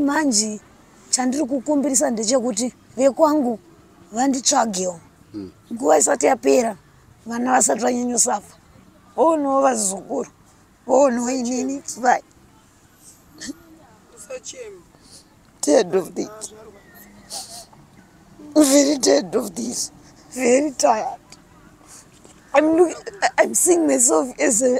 manje chandiri kukumbirisa ndechekuti vekwangu vanditsvagewo hmm. nguva isati yapera vana vasati vanyanyosafa voonowo vazukuru voonowo inini vai dead of this very dead of this very tired i'm, looking, I'm seeing myself as a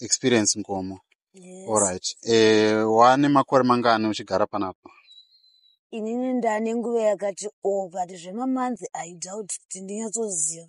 Experience Nkomo. Yes. Alright. Eh, wane makore mangani uchigara panapa? Inini ndane nguva yakati oh but zvemamanzi I doubt kuti ndinyatsoziva.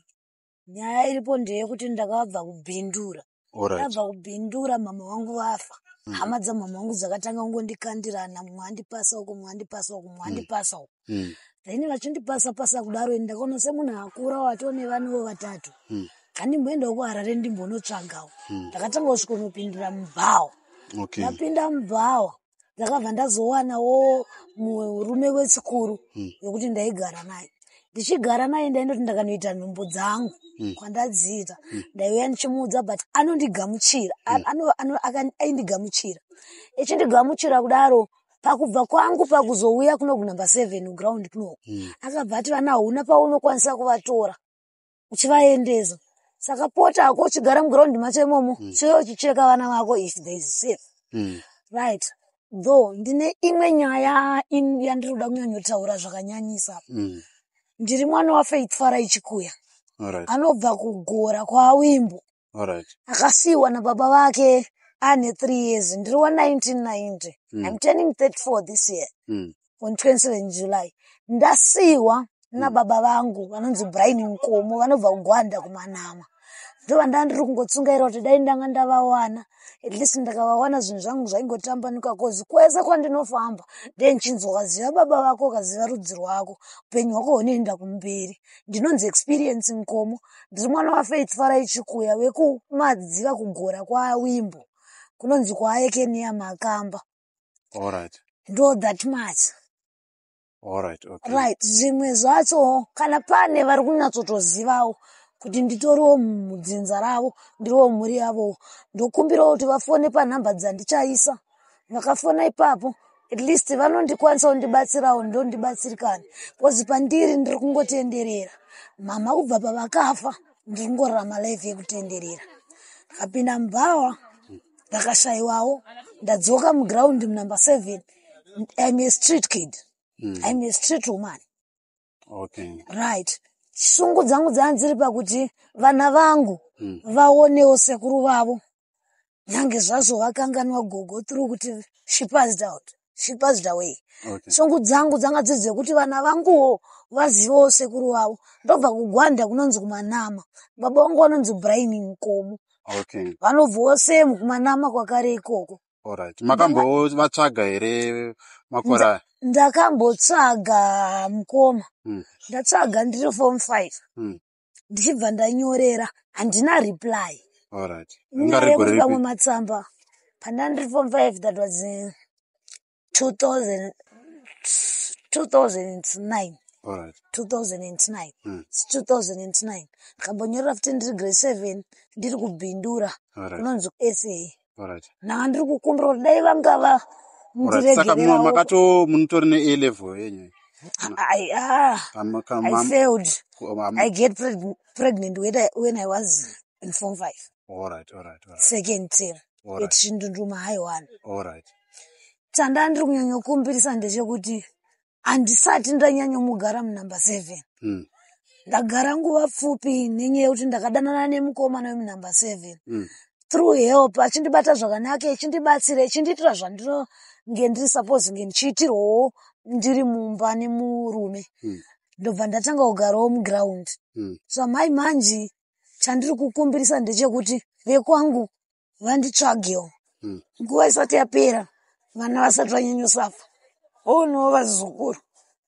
Nyaya iripo ndeyekuti ndakabva kubindura. Alright. Ndabva kubindura mama wangu vafa. Mm. Hama dzamama wangu dzakatanga kungondikandirana mumwe andipasa uko mumwe andipasa uko mumwe Mm. andipasa uko. mm. then vachindipasa pasa kudaro ini ndakaona semunhu akura watoo nevanovo vatatu mm. andimboendawo kuharare ndimbonotsvagawo mm. ndakatanga kusvikonopindira mubhawa okay. ndapinda mubhawa ndakabva ndazowanawo murume wechikuru mm. wekuti mm. ndaigara naye ndichigara naye ndaindoti ndakanoita nhumbu dzangu mm. kwandadziita mm. ndaiuya ndichimuudza but anondigamuchira mm. aindigamuchira echindigamuchira kudaro pakubva kwangu pakuzouya kuno kunumber seven kuground kunoku mm. akabva ati vana hauna paunokwanisa kuvatora uchivaendesa saka pota ako uchigara muground macho imomo mm. chive uchicheka vana vako if there is safe mm. right though ndine imwe nyaya yandiri kuda kunyanyotaura zvakanyanyisa mm. ndiri mwana wafaithfara ichikuya right. anobva kugora kwaawimbo Alright. akasiiwa nababa vake ane three years ndiri wa 1990 Mm. i'm turning 34 this year Mm. on 27 july ndasiiwa nababa vangu vanonzi brian nkomo vanobva kugwanda kumanama ndova ndaa ndiri kungotsungaira kuti dai ndanga ndavawana at least ndakavawana zvinhu zvangu zvaingotambanuka kozi kwese kwandinofamba ndee ndichinzi ukaziva baba vako ukaziva rudzi rwako upenyu hwako hunoenda kumberi ndinonzi experience nkomo ndiri mwana wafaith farai chikuya wekumadziva kugora kwawimbo kunonzi kwaayekeniya makamba alright ndo that much alright okay right zvimwe zvacho kana pane vari kunyatsotozivawo kuti nditoriwo mudzinza ravo ndiriwo mhuri yavowo ndokumbirawo kuti vafone panhamba dzandichaisa makafona ipapo at least vanondikwanisa kundibatsirawo ndondibatsirikani bcause pandiri ndiri kungotenderera mama kubva pavakafa ndiri kungorarama life yekutenderera ndikapinda mubhawa ndakashayiwawo ndadzoka muground munumber seven im a street kid mm. im a street woman okay. right shungu dzangu dzanga dziri pakuti vana vangu mm. vaonewo sekuru vavo nyange zvazvo vakanganwa gogo through kuti she passed out she passed away okay. shungu dzangu dzanga dziri dzekuti vana vanguwo vazivewo sekuru vavo ndobva kugwanda kunonzi kumanama baba vangu vanonzi brain mukomo okay. vanobvawo same kumanama kwakare ikoko Alright. Makambovatsvaga here makore aya? Ndakambotsvaga mukoma. Mm. Ndatsvaga ndiri form 5. Mm. Ndichibva ndanyorera handina reply. Alright. Nyaya yekuti pamwe matsamba pandandiri form 5 that was uh, 2009 Alright. 2009 Mm. It's 2009 ndikambonyorera futi ndiri grade seven ndiri kubhindura Alright. kunonzi kusa Alright. ndanga ndiri kukumbira kuti dai vangava Alright. Saka mu- ndiregererawo makato munotori ne A level yenyu. I- ah, Am- kam- I am- failed. am- I get preg- pregnant when I, when I was in form five. All right, all right, all right. second term All right. yetishindunduma haiwana All right. chandaa ndiri kunyanyokumbirisa ndechekuti handisati ndanyanyomugara munumber seven Mm. ndagara nguva pfupi nenyaya yekuti ndakadanana nemukomana wemunumber seven Mm. through help achindibata zvakanaka echindibatsira echindiitira zvandinonge ndiri suppose kunge ndichiitirwawo ndiri mumba nemurume Mm. ndobva ndatanga kugarawo muground Mm. so amai manje chandiri kukumbirisa ndechekuti vekwangu vanditsvagewo hmm. nguva isati yapera vana vasati vanyanyosafa voonewo vazukuru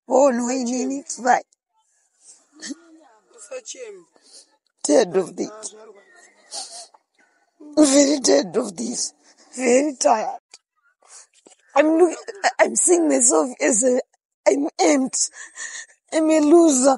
voonewo inini vai dead of this very dead of this very tired I'm looking, I'm seeing myself as a, I'm empty. I'm a loser.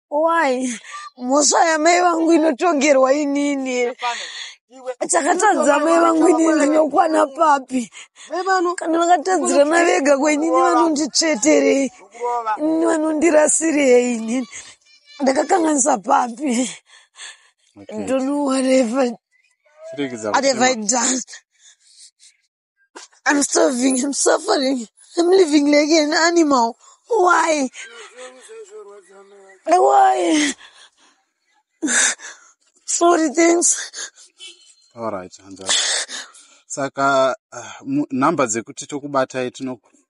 why mhosva yamai vangu inotongerwa inini chakatadza mai vangu inini ndinokwana papi kana vakatadzirana vega kwenyini vanonditsveterei ini vanondirasirei inini ndakakanganisa papi don't know what have, what have i done I'm starving, I'm suffering, I'm living like an animal. Why? Why? Sorry, thanks. All right, hanzvadzi. Saka uh, mu- number dzekuti tokubatai tinoku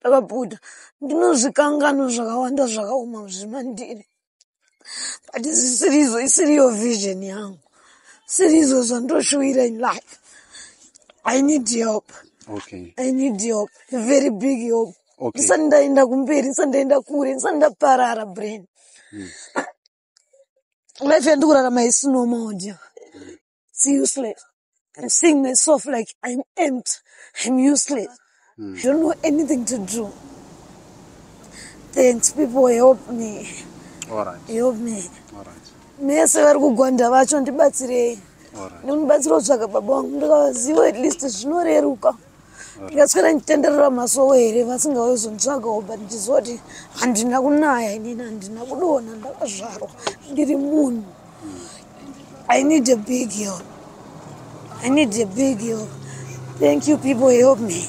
ndakabuda ndinozvikanganwa zvakawanda zvakaoma zvimandiri but zvisirizo isiriyo vision yangu sirizo zvandoshuwira in life i need help okay. i need help very big help okay. ndisati ndaenda kumberi ndisati ndaenda kure ndisati ndaparara brain hmm. life yandikurarama isinomaodya it's useless I'm seeing myself like I'm empty I'm useless mm. I don't know anything to do thanks people help me All right. help me All right. mese vari kugwanda vacho ndibatsirei nonibatsira kutsvaga baba wangu ndikavaziva at least zvinoreruka ndikaswera ndichitenderera masowe here vasingauye zonditsvagawo but ndizoti handina kunaya inini handina kudona ndakazvarwa ndiri munhu i need a big help i need a big help thank you people help me